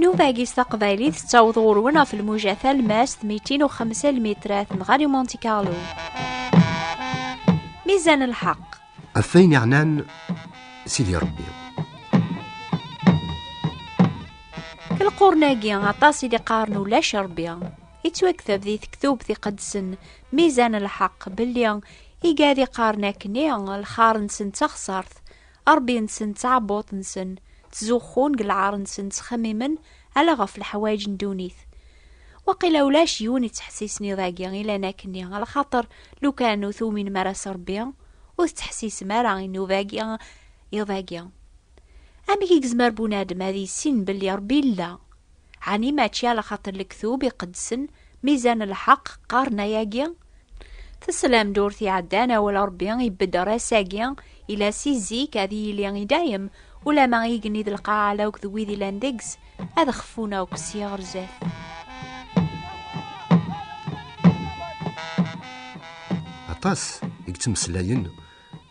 Nuvagi s taqbaylit tettaweḍ ɣur-wen ɣef lmuja talmast 205 lmitrat n Ɣari Monte Carlo. Mizan lḥeq. Ɣef wayen yeɛnan Sidi Rebbi. Lqurn-agi aṭas i d-iqqaren ulac Rebbi. yettwaktab di tektubt iqedsen mizan lḥeqq belli igad iqqaren akkenni lxar-nsen d taxsart rebbi-nsen d tɛebbuḍt-nsen ttzuxxun deg lɛar-nsen ttxemmimen ala ɣef leḥwayeǧ n ddunit waqila ulac yiwen yettḥessisen iḍ-agi ilan akkenni lxaṭer lukan ur tuwminem ara s rebbi ur tettḥessisem ara inuba-agi iḍ-agi amek i yezmer bunadem ad yissin belli rebbi yella Ɛni mačči ala xaṭer lektub iqedsen mizan lḥeq qqaren ayagi? Teslam-d ur t-iɛeddan awal n Rebbi ibedder ass-agi ila si zik ad yili i dayem, ulama igenni d lqaɛa ala akk d wid ilan deg-s ad xfun akk sya ɣer zdat. Aṭas i yettmeslayen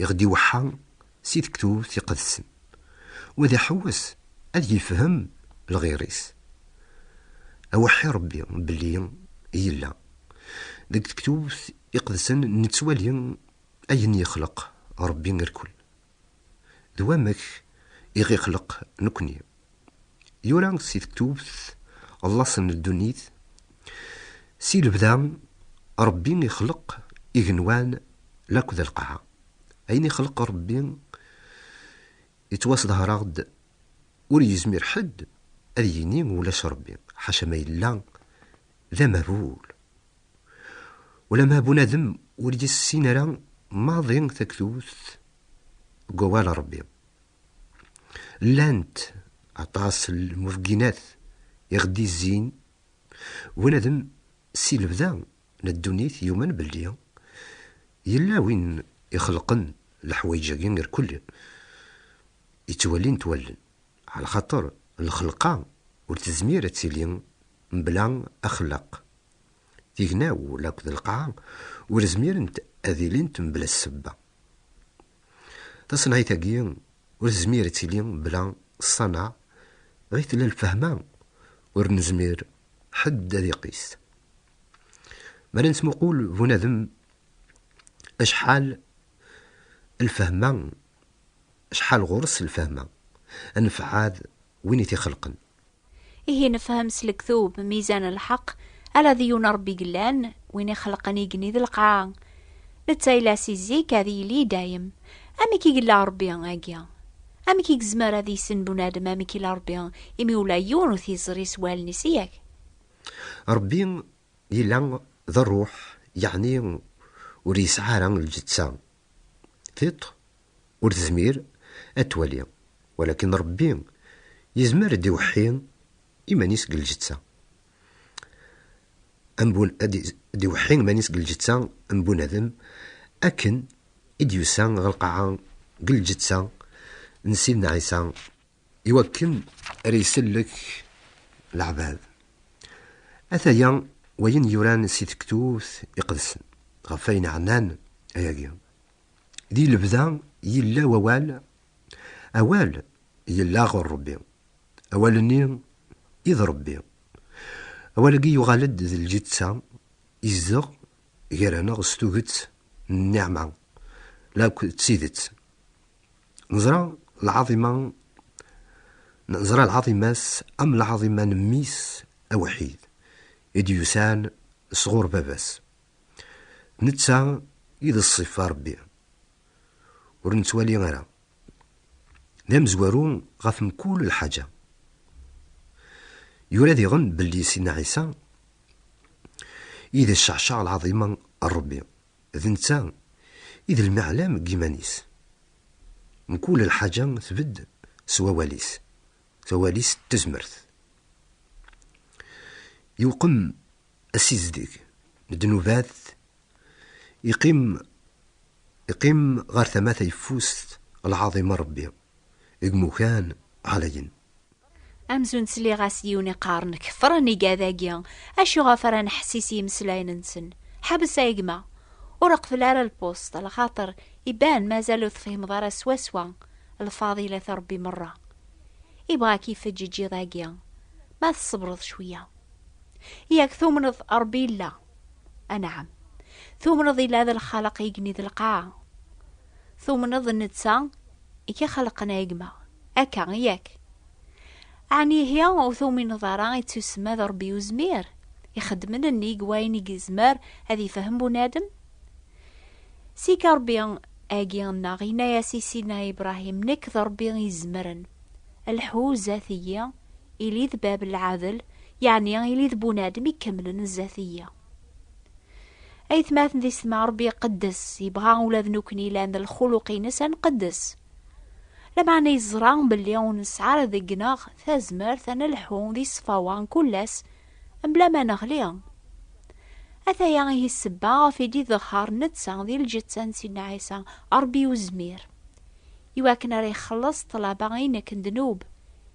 i ɣ-d-iweḥḥa si tektubt iqedsen, wa d iḥewwes ad yefhem lɣir-is. Aweḥḥi Rebbi belli yella. Deg tektubt iqedsen nettwali ayen yexleq Rebbi irkel, d wamek i ɣ-ixleq nekni Yura si tewwet llaṣ n ddunit, si lebda Ṛebbi ixleq igenwan laked lqaɛa. Ayen ixleq Ṛebbi yettwasḍehṛeɣ-d, ur yezmir ḥedd ad yini ulac Ṛebbi, ḥaca ma yella d amehbul. Ulamma bunadem ur yessin ara maḍi taktubt deg wawal n Ṛebbi, Llant aṭas n lmubginat i ɣ-d-izzin unadem si lebda n ddunit yumen belli yella win ixelqen leḥwayeǧ-agi irkel yettwalin-t wallen, ɛla xaṭer lxelqa ur tezmir ad tili mebla axellaq. Tignawla akked lqaɛa ur zmirent ad ilint mebla ssebba. Taṣenɛit-agi ur tezmir ad tili mebla ṣṣaneɛ, ɣi tella lfehma ur nezmir ḥedd ad iqis. Mi ara nettmuqul bunadem acḥal lfehma, acḥal ɣur-s lfehma, anefɛad win i t-ixelqen. Ihi nefhem s lektub mizan lḥeq ala d yiwen Ṛebbi yellan, win ixelqen igenni d lqaɛa. Netta yella si zik, ad yili i dayem. Amek i yella Ṛebbi agi? Amek i yezmer ad yissin bunadem amek yella Ṛebbi, imi ula yiwen ur t-yeẓri s wallen-is i yak? Ṛebbi yella d Ṛṛuḥ, yeɛni ur yesɛi ara lǧeţţa, Tiṭ ur tezmir ad twali, walakin Ṛebbi yezmer ad d-iweḥḥi iman-is deg lǧetta. Ad d-iweḥḥi iman-is deg lǧetta n bunadem, akken i d-yusa ɣer lqaɛa deg lǧetta n Sidna Ɛisa. i wakken ara isellek leɛbad. Ataya wayen yuran si tektubt iqedsen, ɣef ayen ɛnan ayagi. Di lebda yella wawal, awal yella ɣur Rebbi, awal-nni i d Rebbi. Awal-agi yuɣal-d d lǧetta, izdeɣ gar-aneɣ s tuget n nniɛma, lakk d tidet. Neẓra lɛaḍima neẓra lɛaḍima-s am lɛaḍima n mmi-s awḥid i d-yusan sɣur baba-s. D netta i d ṣṣifa Rebbi ur nettwali ara, d amezwaru ɣef mkul lḥaǧa. Yura diɣen belli Sidna Ɛisa i d cceɛceɛ lɛaḍima n Rebbi. D netta i d lmeɛlam deg yiman-is. Mkul lḥaǧa tbedd s wawal-is, tawal-is d tezmert. Iwqem asizdeg n ddnubat, iqqim iqqim ɣer tama tayeffust lɛaḍima n Rebbi. Deg umukan ɛlayen. Amzun ttliɣ-as-d yiwen iqqaren kefren igad-agi, acu ɣef ara neḥsis yimeslayen-nsen? Ḥabes a gma! Ur reqbel ara lpusṭ, lxaṭer iban mazal ur tefhimeḍ ara swaswa lfadilat n Rebbi merra. Ibɣa k-ifeǧǧ iǧiḍ-agi, ma tṣebreḍ cwiya. Yak tumneḍ Rebbi yella? Anɛam. Tumneḍ yella d lxaleq igenni d lqaɛa? Tumneḍ netta i k-ixelqen a gma? Akka, yak? Ɛni ihi ur tumineḍ ara i tt-yusemma d Rebbi Uzmir, ixeddmen nnig wayen i yezmer ad yefhem bunadem? Sika Rebbi agi nneɣ yenna-yas i Sidna Ibrahim, Nekk d Rebbi Izemren, lḥu zdat-iyi, ili d bab n lɛadel, yeɛni ili d bunadem ikemlen zdat-iyi. aytmaten di setma rebbi iqeddes yebɣa ula d nekkni lan d lxuluq-ines ad nqeddes lameɛna yeẓra belli ur nesɛi ara deg-neɣ tazmert ad nelḥu di ṣṣfawa n kullas mebla ma neɣli ataya ihi ssebba ɣef i d-idehher netta di lǧetta n Sidna Ɛisa Rebbi uzmir iwakken ara ixelleṣ ṭṭlaba inek n ddnub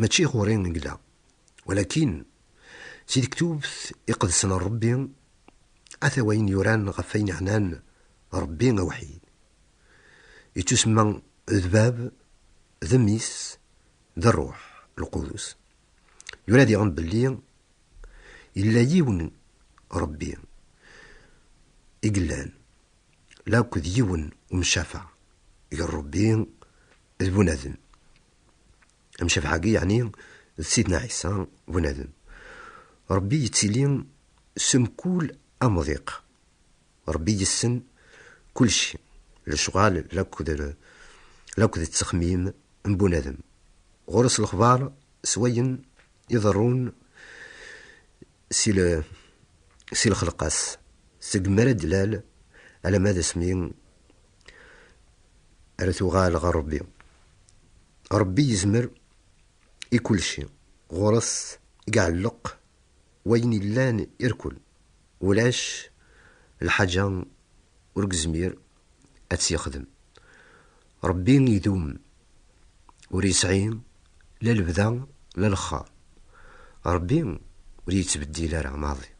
Mačči ɣur-i i yella, walakin si tektubt iqedsen n Rebbi, ata wayen yuran ɣef wayen iɛnan Rebbi awḥid. Yettusemma d Bab, d Mmi-s, d Rruḥ lqudus. Yura diɣen belli yella yiwen Rebbi i yellan, lakk d yiwen umcafeɛ gar Rebbi d bunadem. amcabḥagi yeɛni d sidna Ɛisa bunadem. Ṛebbi yettili s mkul amḍiq. Ṛebbi yessen kulci, lecɣal lakk d ttexmim n bunadem. Ɣur-s lexbar s wayen iḍerrun si lexleq-as, seg mi ara d-tlal alamma d asmi Ara tuɣal ɣer Rebbi. Rebbi yezmer i kulci. Ɣur-s i iɛelleq wayen illan irkul. Ulac lḥaǧa ur gezmir ad tt-yexdem. Rebbi idum, ur yesɛi la lebda la lexxar. Rebbi ur yettbeddil ara maḍi.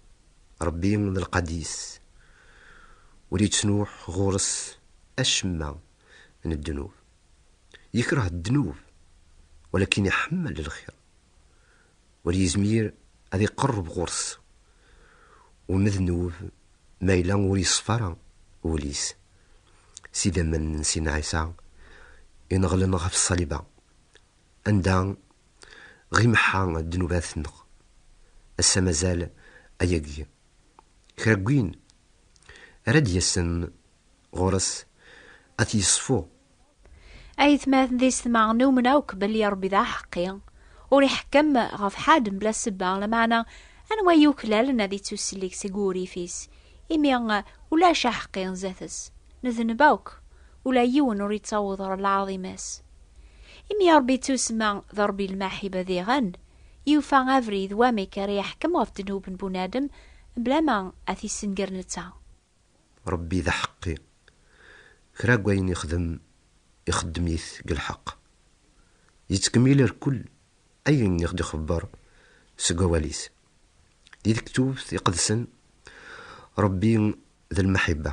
Ṛebbi d lqad-is, ur yettnuh ɣur-s acemma n ddnub. Yekreh ddnub, walakin iḥemmel lxir. Ur yezmir ad iqerreb ɣur-s umednub ma yella ur yeṣfa ara wul-is. S idammen n Sidna Ɛisa ineɣlen ɣef ṣṣaliba, Anda ɣ imeḥḥa ddnubat nneɣ, ass-a mazal ayagi kra n win ara d-yasen ɣur-s ad t-yeṣfu. Ayetmaten tisetmaɣ-nni umneɣ akk belli Ṛebbi d aḥeqqi, ur iḥekkem ɣef ḥedd mebla ssebba, lameɛna anwa i yuklalen ad ittussellek seg wurrif-is, imi ulac aḥeqqi zdat-s, nedneb akk, ula yiwen ur ittaweḍ ɣer lɛaḍima-s. Imi Ṛebbi yettusma d Ṛebbi n lmaḥiba diɣen, yufa abrid wamek ara yeḥkem ɣef ddnub n bunadem mebla ma ad t-issenger netta. Ṛebbi d aḥeqqi. Kra n wayen yexdem, ixeddem-it deg lḥeqq. Yettkemmil rkul ayen i ɣ-d-ixebber seg wawal-is. Di Lektubt Iqedsen, Ṛebbi d lmaḥiba.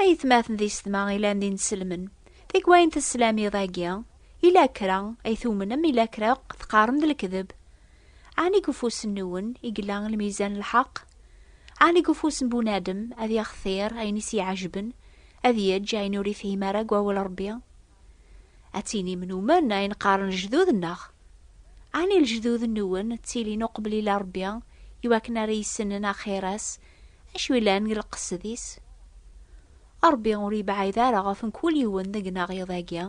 Ayetmaten di setma ilan d ineselmen. Tikwal n teslam iḍ-agi, ila kra ay tumnem, ila kra akk teqqarem d lekdeb. Ɛni deg ufus-nwen i yella lmizan n lḥeqq? Ɛni deg ufus n bunadem ad yextir ayen i s-iɛejben, ad yeǧǧ ayen ur ifhim ara deg wawal Ṛebbi? Ad tinim numen ayen qqaren lejdud-nneɣ. Ɛni lejdud-nwen ttilin uqbel ila Rebbi i wakken ara yissnen axir-as, acu yellan deg lqesd-is? Rebbi ur yebɛid ara ɣef mkul yiwen deg-neɣ iḍ-agi,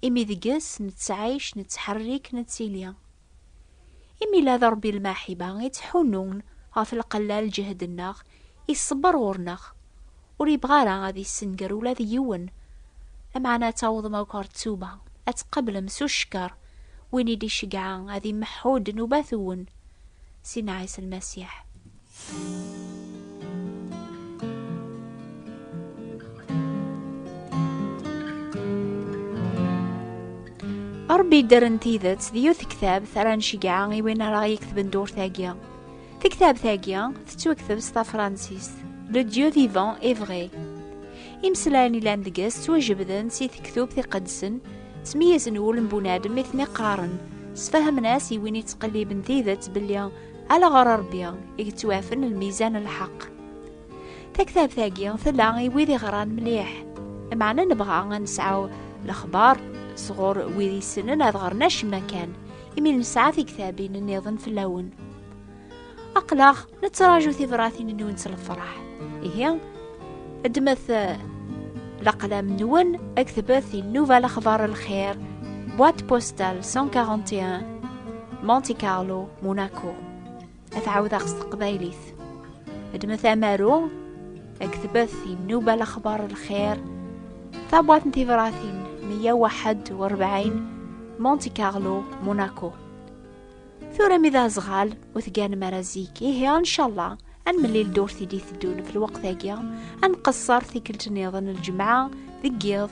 imi deg-s nettɛic, nettḥerrik, nettili. Imi la d Rebbi lmaḥiba i ttḥunnun ɣef lqella n lǧehd-nneɣ Iṣebber ɣur-neɣ, ur yebɣi ara ad yessenger ula d yiwen. Lameɛna ad tawḍem akk ɣer ttuba, ad tqablem s ucekker win i d-icegɛa ad imeḥḥu ddnubat-wen, Sidna Ɛisa Lmasiḥ. Ṛebbi iddren tidet d yiwet tektabt ara ncegɛa i win ara ɣ-yeketben dduṛt-agi. Tektabt-agi tettwakteb s tafransist Le Dieu vivant est vrai. Imeslayen ilan deg-s ttwajebden si tektub tiqedsen, ttmeyyazen wul n bunadem i ten-iqqaren, sfahamen-as i win yettqelliben tidet belli ala ɣer Rebbi i yettwaɛfen lmizan n lḥeqq. Taktabt-agi tella i wid iɣran mliḥ. Meɛna nebɣa ad nesɛu lexbar sɣur wid yessnen ad ɣren acemma kan, imi nesɛa tiktabin nniḍen fell-awen. Aqlaɣ nettraǧu tibratin-nwen s lefraḥ. Ihi, ddmet eh, laqlam-nwen, aktbet i Nnuba Lexbar Lxir, boîte postale 141, Monte Carlo, Monaco. ad ɛawdeɣ s teqbaylit ddmet amaru aktbet inuba lexbar lxir tabwat n tibratin 141 Monte Carlo Monaco tura mi d azɣal ur tganem ara zik ihi incallah ad nemmlil dur tidi teddun fi lweqt-agi ad nqeṣṣer tikkelt-nniḍen lǧemɛa deg yiḍ